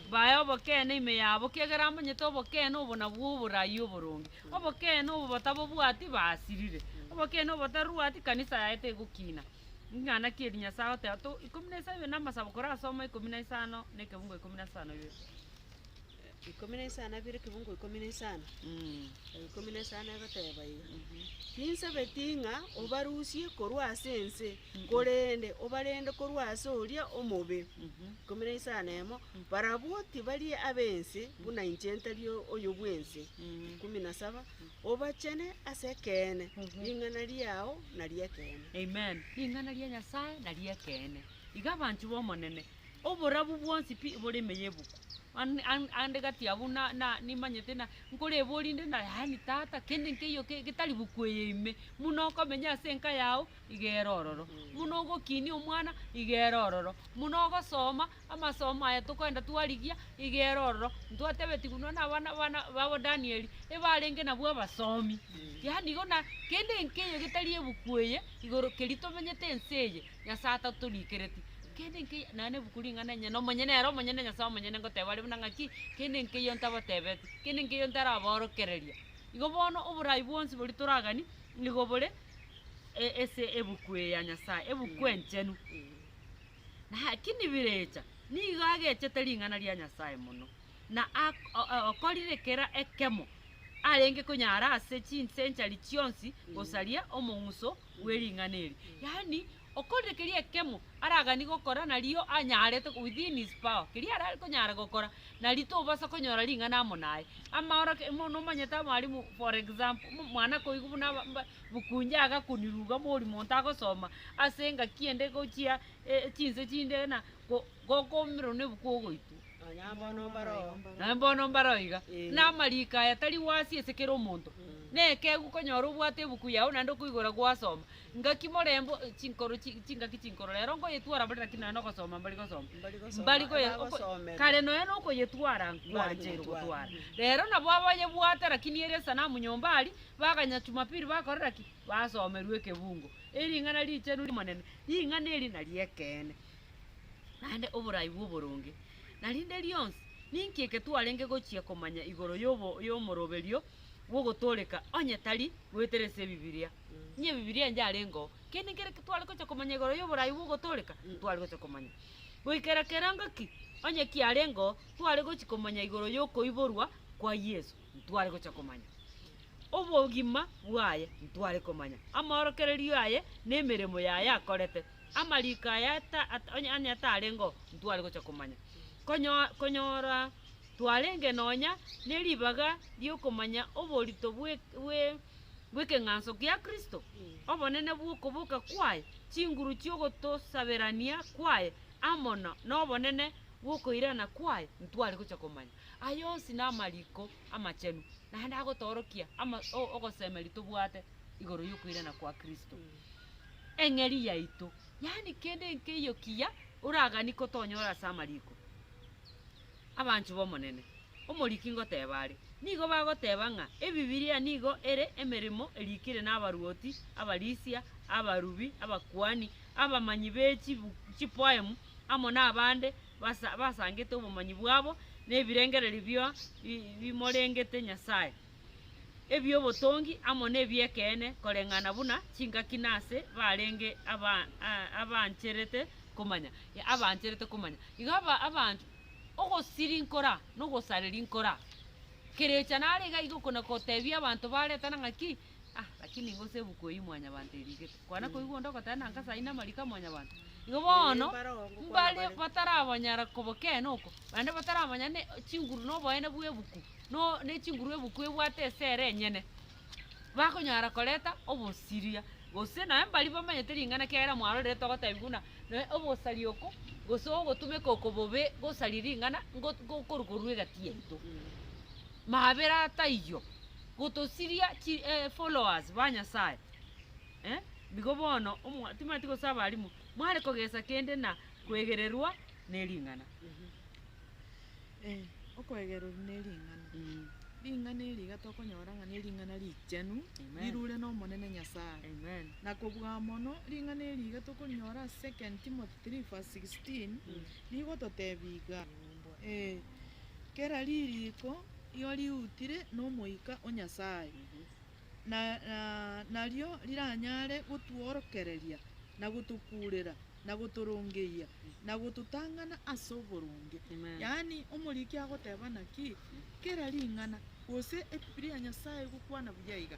bae obokene ime yabo, kiagera amanyete obokene obo nabwo oborai oboronge. Obokene obo batabobwati basirire, obokene obo bataruati kanisa yaye tegokina. Ing'ana ki eri Nyasae agoteba to ikomi na isano na amasabo korasomwa ikomi na isano na ekebungo ikomi na isano ibere. Ikomi na isano na abere ekebungo ikomi na isano. Mm. Aya ikomi na isano egoteba iga. Ninsabetie ng'a obarusie korwa ase ense, korende obarende korwa ase oria omobe. Ikomi na isano na emo, barabwo tibari ab'ense, buna inche ntari o- oyo bw'ense. Ikomi na saba, Obachene ase ekeene, ring'ana riao nari ekeene. Amen, ring'ana ria Nyasae nari ekeene. Iga abanchwa b'Omonene, oborabu bwonsi pi bore ime y'ebuku. An- an- ande gati abwo na- na- nimanyete na nkoreborie inde na yaani tata, kende nkeiyo ke- getari buku eye ime, buna okomenya ase enka yao, iga ere ororo, buna ogokinia omwana, iga ere ororo, buna ogosoma, Amasomo aya tokoenda twarigia igere ororo, ntwatebeti buna nabana bana babo Danieli ebarenge nabwo abasomi. Yaani igo na kende enkeyo getari ebuku eye igoro keri tomenyete ense eye Nyasaye atatorikereti. Kende enkeyo nonye nebuku ring'ana enyene omonyene ere omonyene Nyasaye omonyene ngoteba are buna ng'aki kende enkeyo ntabatebeti, kende enkeyo ntarabaorokereria. Igo bono oborai bwonsi bori toragani nigo bore ese ebuku eye ya Nyasaye, ebuku enchenu. Lakini Birecha nigo agechete ring'ana ria Nyasae mono, na okorire kera ekemo arenge konyara ase chinsenchari chionsi gosaria omong'uso bwe ring'ana eri. Yaani okorire keria ekemo aragani gokora nario anyarete within his power keria arare konyara gokora nario tobasa konyora ring'ana amo naye. Amaoroke, nomanyete abalimu for example, mwana koigwa buna Bokunja agakoniruga mori monto agosoma ase engaki ende gochia chinse chinde na gokomerwa nebuku ogoitwa. Naye mbono mbare oiga. Na amariko aya tari wasi ase kera omonto. Nekegwe konyora obwate ebuku yao naende okoigora gwasoma. Ngaki morembe chinkoro chingaki chinkoro rero nkoyetwara bare lakini naende ogosoma mbari gosoma. Mbari kare nonya nokoyetwara nkwancheire gotwara. Rero nabo abanyebwate lakini ere esanamu nyomba aria Baganya Jumapili bakorera ki? Basomerwe ekebungo, ering'ana richenu ri'Omonene. Ring'ana eri nari'ekeene, naende oborai bw'oboronge. Na rinde rionsi, ninki eke twarenge gochia komanya igoro y'omoroberio bw'ogotooreka onye tari goetera ase Ebibiria? Inye Ebibiria enche arengeo, kende kere tware gochia komanya igoro y'oborai bw'ogotooreka, ntware gochia komanya. Goikera kerango ki onye kiarengeo, tware gochia komanya igoro y'okoiborwa kwa Yeso. ntware gocha komanya obogima bwaye, ntware komanya amaorokererio aye na emeremo yaye akorete, amariko aye ata, ata, onye- onye atarengeo, ntware gocha komanya. Konyo- Konyora twarenge nonya neribaga riokomanya oborito bwe- bwe- bw'ekeng'anso kia Kristo, obonene bw'okoboka kwaye, chinguru chi'ogotosaberania kwaye, amo no- nobonene bw'okoirana kwaye, ntware gocha komanya. Aya onsi namariko amachenu, naende agotoorokia ama o- ogosemeria tobwate igoro y'okoirana kwa Kristo. Eng'eria yaito, yaani kende nkeiyo kiya oragani kotonyora ase amariko. Abanchwa b'Omonene, omoriki ngoteeba are, nigo bagoteeba ng'a Ebibilia nigo ere emeremo eriikire nabaruoti, abarisia, abarubi, abakuani, abamanyi be chibu- chipoemu, amo nabande basa basangete obomanyi bwabo na ebirengererio bio bi bimorengete Nyasae, ebiobotongi amo na ebi'ekeene, koreng'ana buna chingaki na ase barenge aba aa abancherete komanya ya abancherete komanya. Iga aba abanto ogosiri nkora na ogosareri nkora, kerecha nare iga igo kona kotebia abanto baretana ng'a ki. Ah, lakini gose ebuku eyio Mwanyabanto erigete, kwana koigwa onde ogoteba na nkasa aine amariko a Mwanyabanto. Igo Ee, bono, mbare oo ngokwana mbare bare. batarabanyara kobokena oko, naende bataramanya ne chinguru na oboene bwa ebuku, no ne chinguru ebuku ebwate esere enyene, bakonyara koreta obosiria, gose naye mbari bamanyete ring'ana ekiagera mwarorire togotebia buna noe obosari oko, gose ogotumeka oko bobe gosaria ring'ana, ngot- ngokoru korwa egati yaito. Mabera taiyo, gotosiria chi eh followers ba Nyasaye, eh, nigo bono omwa timwati gose abalimu, mware kogesa kende na kwegererwa nering'ana. Eh, okwegerwa nering'ana, ring'ana eri iga tokonyora ng'a nering'ana richenu, Amen. rirure n'Omonene Nyasaye. Amen. Na kobua mono, ring'ana eri iga tokorinyora ase second Timothy three verse sixteen, rigototebia iga. Ee, kera ririko rio riutire n'Omoika o Nyasae, na nario riranyare gotworokereria, na gotokuurera, na gotorongeyia, na gototang'ana ase oboronge. Yaani, omoriki agoteba ng'a ki? Kera ring'ana, gose ebibilia ya Nyasae egokwana buya iga,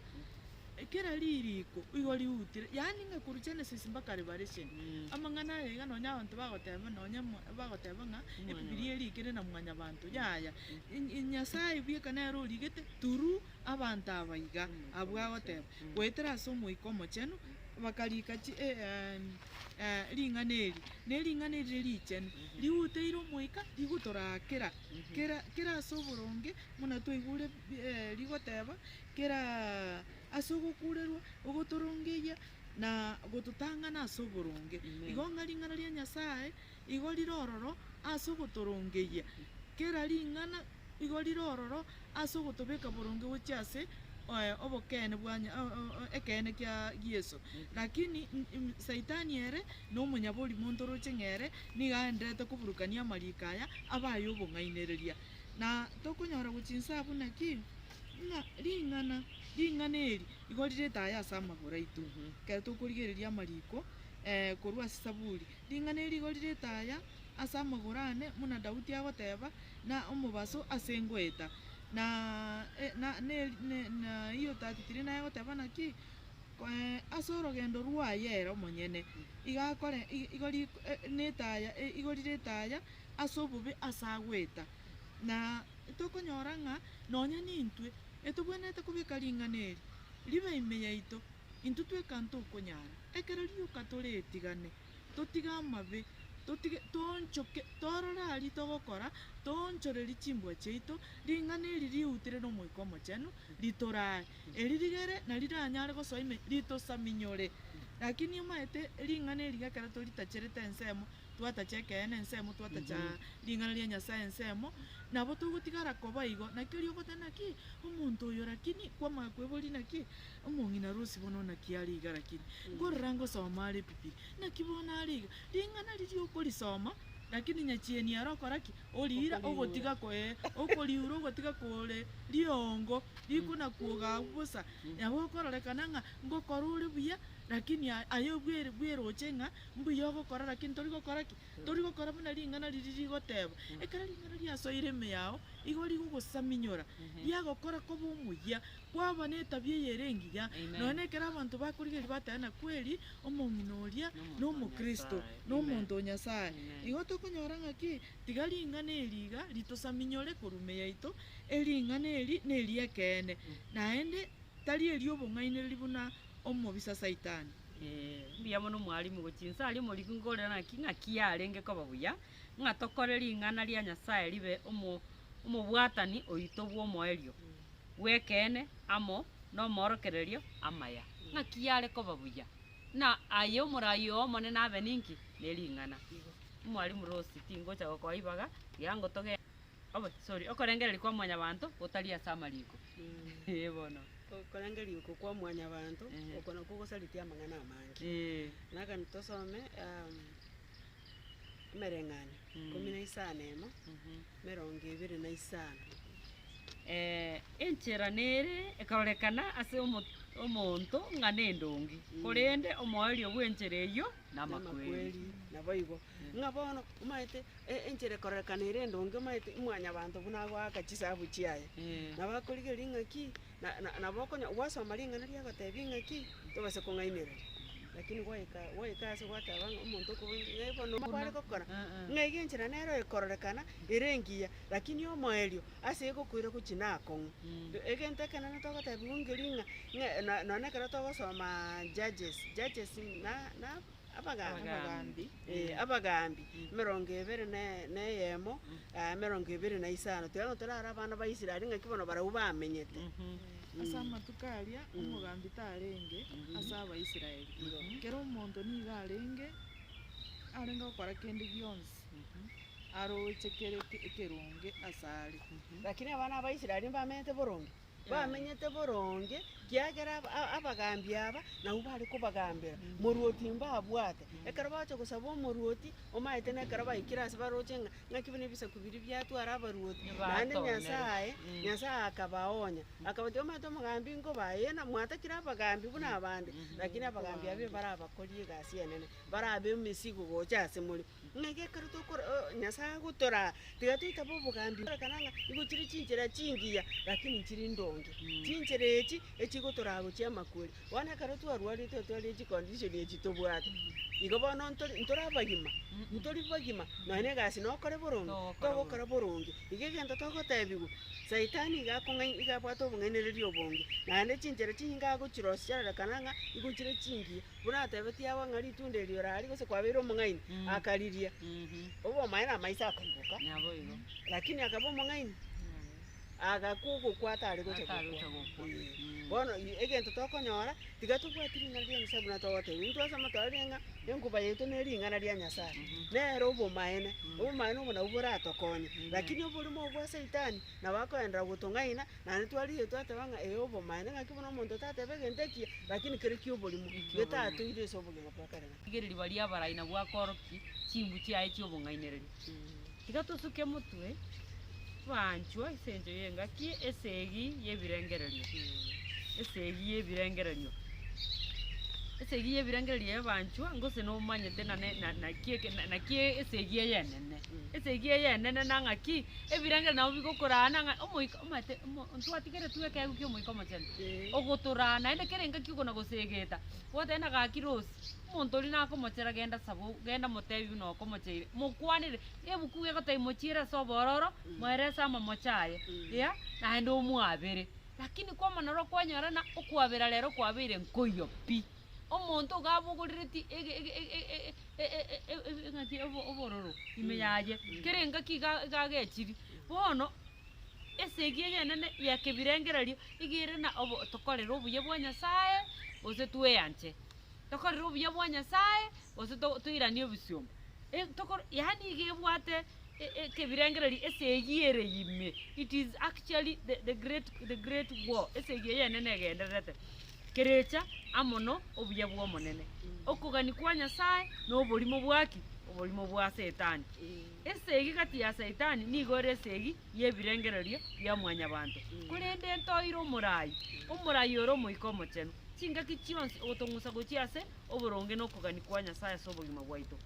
Ekero ririko igo riutire, yaani ng'a korwa Genesis mpaka Revelation, amang'ana aya iga nonya abanto bagoteba nonya mo- bagoteba ng'a Ebibilia erikire na mwanyabanto. Yaya, in- in Nyasaye bweka nere origete through abanto aba iga, abwo agoteba, goetera ase Omoika Omochenu, bakarika chi- e- em, eh, ring'ana eri, na ering'ana eri rire richenu, riuteire Omoika rigotoraakera kera kera ase oboronge, buna twaigure bi- eh, rigoteba, Kera ase ogokuurerwa, ogotorongeyia, na gototang'ana ase oboronge. Igo ng'a ring'ana ria Nyasae igo rire ororo ase ogotorongeyia, kera ring'ana igo rire ororo ase ogotobeka boronge gochia ase obokeene bwa ekeene kia Yeso. Lakini Saitani ere nomonyabori monto oroche ng'a ere nigo aenderete koburukania amariko aya abe ay'obong'ainereria. Na tokonyora gochia inse abwo naki? Ng'a ring'ana, ring'ana eri igo rirete aya ase amagoro aito, ekero tokorigereria amariko korwa ase Saburi. Ring'ana eri igo rirete aya ase amagoro ane, buna Daudi agoteba, Na omobaso ase ngoeta, na neiyo tatitiri naye agoteba ng'a ki? Ase orogendo rwaye ere omonyene, iga akore, igo ri, na etaya, igo rirete aya ase obobe ase agoeta. na tokonyora ng'a nonya nintwe etobwenerete kobeka ring'ana eri ribe ime yaito, intwe tweka ntokonyara. Ekero rioka tore etigane, totige amabe, totige, toonchoke, torore aria togokora, toonchorerie chimbwa chiaito, ring'ana eri riutere n'Omoika Omochenu ritoraae, eri rigere na riranyare gosoa ime ritosaminyore. Lakini omaete ring'ana eri gekero toritacherete ensemo, twatacha ekeene ensemo, twatacha ring'ana ria Nyasae ensemo, nabo togotigara koba igo. Naki oria ogoteba naki omonto oyo lakini kwamanya kweboria naki omong'inarusi bono naki are iga lakini nkorora ngosoma are Bibilia, naki bono are iga. Ring'ana riria okorisoma lakini nyachieni ere okora ki? Oriira ogotiga ko ee, okoriura ogotiga kore riongo rikonakwoga abwo bosa. Nabo okororekana ng'a ngokora ore buya lakini aye bwe- bweroche ng'a. Mbuya ogokora, lakini tori gokora ki? Tori gokora buna ring'ana riria rigoteba. Ekero ring'ana riasoire ime yao, igo rigogosaminyora, riagokora koba omuya, kwaba netabia eye ere engiya. Amen. Nonya nekero abanto bakorigereria bateba ng'a kweri omong'ina oria Nomonto o nomokristo, Nyasae. Amen. nomonto o Nyasae. Amen. Igo tokonyora ng'a ki? Tiga ring'ana eri iga ritosaminyore korwa ime yaito, ering'ana eri neri'ekeene, naende tari eri'obong'ainereria buna omobisa Saitani. Mbuya mono mwalimu, gochia inse aria omoriki nkorera naki ng'aki yarenge koba buya ng'a tokore ring'ana ria Nyasaye ribe omobwatani oito bw'omoerio bw'ekeene amo nomorokererio amaya. Ng'aki yare koba buya na aye omorai oo Omonene abe ninki? Nering'ana. Igo. Mwalimu Rose, tingocha gokoa ibaga, tiga ngotogenda. sorry, okorengereria kwa Mwanyabaanto gotari ase amariko, ee bono. Okorengeria oko kwa Mwanyabaanto, oko nakwo gosaritie amang'ana amange. Na ekero tosome emereng'anio ikomi na isano emo, emerongo ebere na isano. enchera nere ekorekana ase omonto ng'a nendonge, korende omoerio bw'enchera eyio namakweri. Namakweri, naboigo. ng'a bono omanyete enchera ekororekana ere endonge, omanyete mwanyabanto buna agoaka chisahabu chiaye. Nabo akorigereria ng'a ki, na- na- nabo okonya- gwasoma ring'ana riaye ogotebi ng'a ki, tobasa kong'ainereria. Lakini gwaika gwaika ase gwateba ng'a omonto okobonya ng'ai bono nabo are gokora, ng'a iga enchera nero ekororekana ere engiya, lakini omoerio ase egokoira gochia nakong'u. Egento ekenene togotebiwa ngeria ng'a, ng'a no- nonye ekero togosomaa Judges, Judges na- na. Abagaambi, ee, abagaambi, emerongo ebere na eyemo, aa, emerongo ebere na isano, tiga ng'a torare abana ba Israeli ng'aki bono barabwo bamenyete. Ase amatuko aria omogaambi tarenge ase Abaisraeli. Kera omonto nigo arenge arenge gokora kende gionsi aroche kere ekeronge asare. Lakini abana ba Israeli mbamenyete boronge. bamenyete boronge, ekiagera abagaambi aba nabwo bare kobagambera, morwoti mbabwate. Ekero bagocha gosaba omorwoti, omanyete nekero baikire ase baroche ng'a ng'aki buna ebisaku biria biatwara abarwoti, naende Nyasae, Nyasae akabaonya, akabatebi, omanyete omogambi nkoba aye, na mwatakire abagaambi buna abande, rakini abagaambi abwo barabakorie egasi enene, barabe emesigo gocha ase more. Ng'ai gekero tokora Nyasae agotoraa, tiga toitabe obogambi bw'ekerekano ng'a nigo chire chinchera chingiya, lakini nchiri ndonge. Chinchera echi echigotoraa gochia amakweri. Bono ekero twarwarete otware echicondition echi tobwate, igo bono ntori ntori abagima, ntori bagima, nonya na egasi nokore boronge, togokora boronge. Iga egento togotebiwa, saitani iga akong'ai iga abwate obong'ainereria obonge, naende chinchera chinyinge agochirosia chiarorekana ng'a nigo chire chingiya. Buna atebetie agwo ng'a ritunda erio rari gose kwabeire omong'aini, akariria. Obe omaye na amaiso akaimoka, lakini akaba omong'aini, agakwa ogokwa atare gocha gokwa. Ee. Bono i- egento tokonyora, tiga tobwati ring'ana ria Nyasae buna togoteba, intwasoma twarorire ng'a enkuba yaito ne ring'ana ria Nyasae, nere obomaene, obomaene obo nabwo boratokonye. Lakini oborimo obwo bwa saitani, nabo akoenderera gotong'aina. Naende twarigetie twateba ng'a ee obomaene, ng'aki buna omonto tateba egento ekiya, lakini kere ki'oborimo, getatoire ase obogima bwa kare na kare. Rigereria baria abarai na bwakoroki chimbu chiaye chi'obong'ainereria. Tiga tosuke motwe, baanchwa, ase engencho y'engaki esegi y'ebirengererio, esegi y'ebirengererio, esegi y'ebirengererio y'abaanchwa, ngose nomanyete na ne- na- naki eke- na- naki esegi ey'enene. Esegi eye enene na ng'aki? Ebirengereri nabo bigokoraa na ng'a omoika omanyete omo ntwatigere twe ekeegwa kia Omoika Omochenu, ogotoraa naende kera engaki okona gosegeta, gwateba na gaki Rosi, omonto oria nakomochera genda saba o genda motebi buna okomocheire, mokwanere ebuku iga egotebia mochiere ase obororo, moere ase amamocho aye, eya naende omwabere. Lakini kwamana rwa kwanyora ng'a okwabera rero kwabeire nkoiyo pi. Omonto iga abogorereti ege ege ege ege. e- e- e- e- e- eng'aki obo- obororo ime yaye, kera engaki iga iga agechiri. Bono, esegi egenene yakebirengererio, iga ere na obo tokorere obuya bwa Nyasae, gose tweanche. Tokorere obuya bwa Nyasae, gose to- toiranie ebisiomba. E- tokor yaani iga ebwate e- e- ekebirengererio esegi ere ime, it is actually the- the great the great war, esegi eyenene egendererete. Kerecha amo no obuya bw'Omonene. Okogania kwa Nyasae no oborimo bwa ki? Oborimo bwa Setani. Esegi gati ya Setani nigo ere esegi y'ebirengererio bia mwanyabanto. Korende ntoire omorai, omorai ore Omoika Omochenu. Chingaki chionsi ogotong'usa gochia ase oboronge no okogania kwa Nyasae ase obogima bwaito.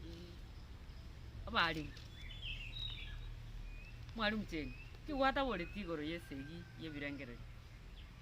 Abarenge. Mwarimu cheni, ki gwataboreti igoro y'esegi y'ebirengererio?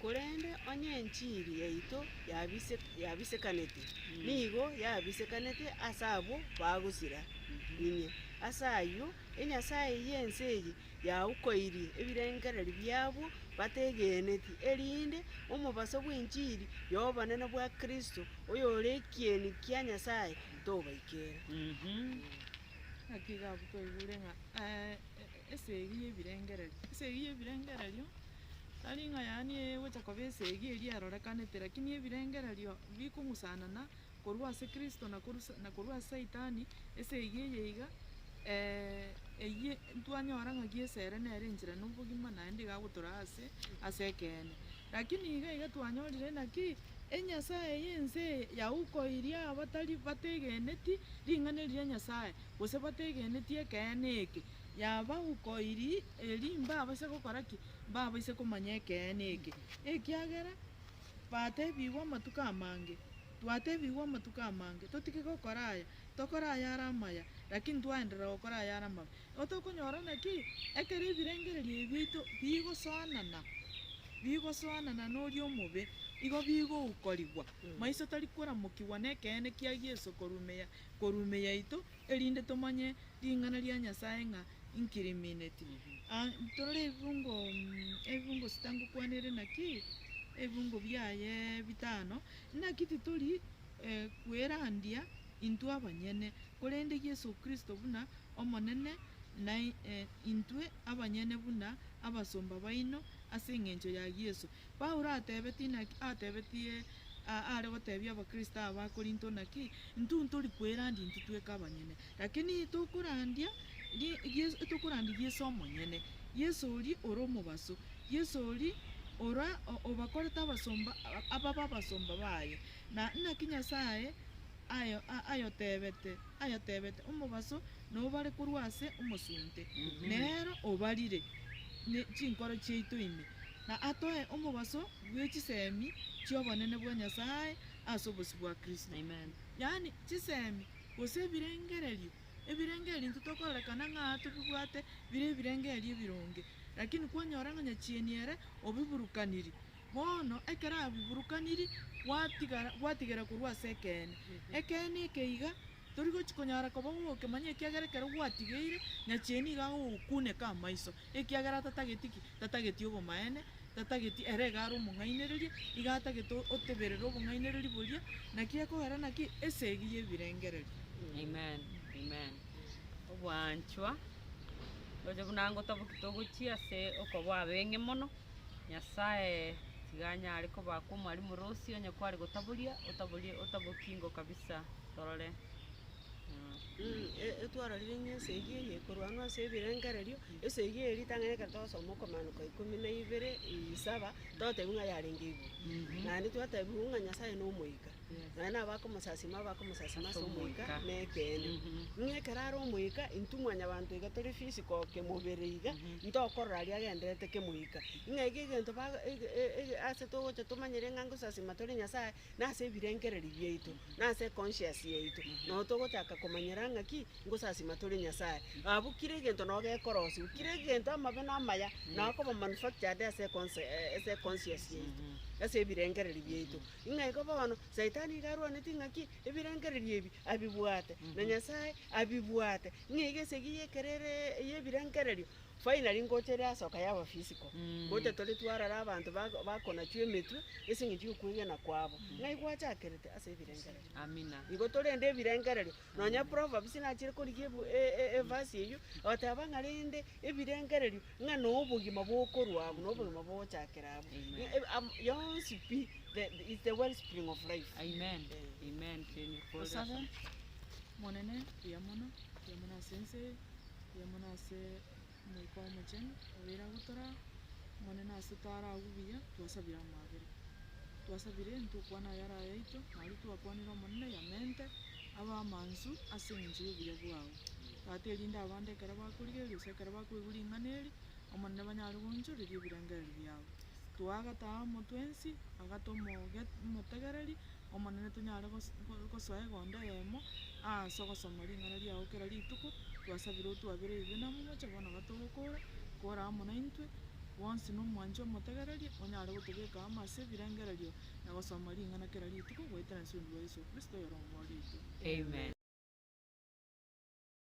Korende onye enchiri yaito yabisekaneti, nigo yabisekaneti ase abwo bagosira inye. Ase ayio, enyasae y'ense eye yaukoirie ebirengererio biabo bategeneti, erinde omobaso bw'enchiri y'obonene bwa Kristo, oyore ekieni kia Nyasae, tobaikera. esegi y'ebirengererio. Esegi y'ebirengererio, tari ng'a yaani egocha koba esegi eria erorekanete, rakini ebirengererio bikong'usanana korwa ase kristo na korwa sa- na korwa ase saitani, esegi eye iga eyie ntwanyora ng'aki esere nere enchera na obogima naende igagotoraa ase ase ekeene. Naki nigo iga twanyorire ng'aki enyasae y'ense eye yaukoirie abatari bategeneti ring'ana eri ria Nyasae, gose bategeneti ekeene eke, yabaukoiri eeri mbabase gokora ki? Mbabaise komanya ekeene eke. Ekiagera batebigwe amatuko amange, twatebigwe amatuko amange, totige gokora aya, tokore ayare amaya, lakini twaenderera gokora ayare amabe. Igo tokonyora naki? Ekero ebirengererio ebi biaito bigosoanana, bigosoanana noria omobe, igo bigoukorigwa, maiso tari koramokigwa nekeene kia Yeso korumia korumia yaito, erinde tomanye ring'ana ria Nyasaye ng'a inkirimineti. A Torore ebibungo ebibungo sita ngokwana ere naki? Ebibungo biaye bitano. Naki titori e kwerandia intwe abanyene, korende Yeso Kristo buna Omonene, na intwe abanyene buna abasomba baino, ase engencho ya Yeso. Paulo atebetie naki? Atebetie aare gotebia Abakristo aba ba Korinto naki? Intwe ntori kwerandi intwe tweka abanyene, lakini tokorandia tokorandia Yeso omonyene, Yeso oria ore omobaso, Yeso oria ora obakorete abasomba, ababe abasomba baye. Na naki Nyasaye. Aye ayotebete, ayotebete omobaso nao bare korwa ase omosunte, nero obarire ne chinkoro chiaito ime, na atoe omobaso bwe chisemi chi'obonene bwa Nyasae ase obosio bwa Kristo. Amen. Yaani chisemi, gose ebirengererio, ebirengererio intwe tokorerekana ng'a tobibwate bire ebirengererio ebironge, lakini kwanyora ng'a nyachieni ere obiburukaniri, Bono ekero abiburukaniri, gwatigara, gwatigera korwa ase ekeene. Ekeene eke iga tori gochi konyara koba gogokemanya ekiagera ekero gwatigeire, nyacheni nigo agogokuneka amaiso, ekiagera tatageti ki? Tatageti obomaene, tatageti ere iga are omong'ainereria, iga atagete o- oteberere obong'ainereria boria, naki ekogera naki? Esegi y'ebirengererio. Amen, amen. Ogwanchwa, oche buna ngotaboki togochia ase okoba abeng'e mono. Nyasae tiga anyare kobakwa omwalimu ore osie onye kware gotaboria, otaborie, otabokingo kabisa. Torore. Ee, twarorire ng'a ense eyio eye ekorwanwa ase ebirengererio, ense eyio eye ritang'ani ekero twasoma okomaanoka ikomi na ibere, isaba, totebiwa ng'a yarenge igoro. Naende twatebiwa ng'a Nyasae nomoika. Naende nabo akomosasima aba akomosasima ase omoika na ekeene. Ng'a ekero are omoika, intwe mwanyabanto iga tore physical kemobere iga, ntokorora aria agendererete kemoika. Ng'a iga egento ba ege e- e ase togocha tomanyere ng'a ngosasima tore Nyasaye, na ase ebirengereri biaito, na ase econscious yaito, nabo togochaka komanyera ng'a ki, ngosasima tore Nyasaye. Abwo kera egento nabo gekorosiwa, kera egento amabe na amaya, nabo akoba manufactured ase econse ase econscious yaito, ase ebirengereri biaito. Ng'a igo bono Saitani nigo arwaneti ng'aki ebirengererio ebi abibwate, na Nyasae abibwate, ng'a iga esegi y'ekerere y'ebirengererio finally ngocha ere asoka yaba physical. Ngocha tore twarora abanto bako- bakonachwa emetwe ase eng'encho y'okwegena kwabo, ng'a igwachakerete ase ebirengererio. Amina. Igo torende ebirengererio, Nonya proverbs nachire korigia evasi eyio, egoteeba ng'a rende ebirengererio ng'a nobogima bokorwa abwo, nobogima bogochakera abwo. Yonsi pi is the well spring of life. Amen. Amen. Tosabe. Omonene, buya mono, buya mono ase ense eye, buya mono ase. Omoika Omochenu obeire agwo tore Omonene ase tare agwo buya, twasabire amabera. Twasabire ntokwane ayare ayaito, nario twakwanire Omonene yamente abe amansu ase engencho y'obuya bwao, Tata, erinde abande ekero bakorigereria gose ekero bakoigwa ring'ana eri, Omonene, banyare goonchoreria ebirengererio biao. Toa agataamo twensi, agate omoge- omotegereri, Omonene tonyare gosoa egondo eyemo ase ogosoma ring'ana riao kera rituko, twasabire otwabererie namomoche bono iga togokora, kora amo naintwe, bwonsi na omwanchi omotegererie, onyare gotobeka amo ase ebirengererio na gosoma ring'ana kera rituko, goetera Ensuri bwa Yeso Kristo oyore Omorwoti oito. Amen.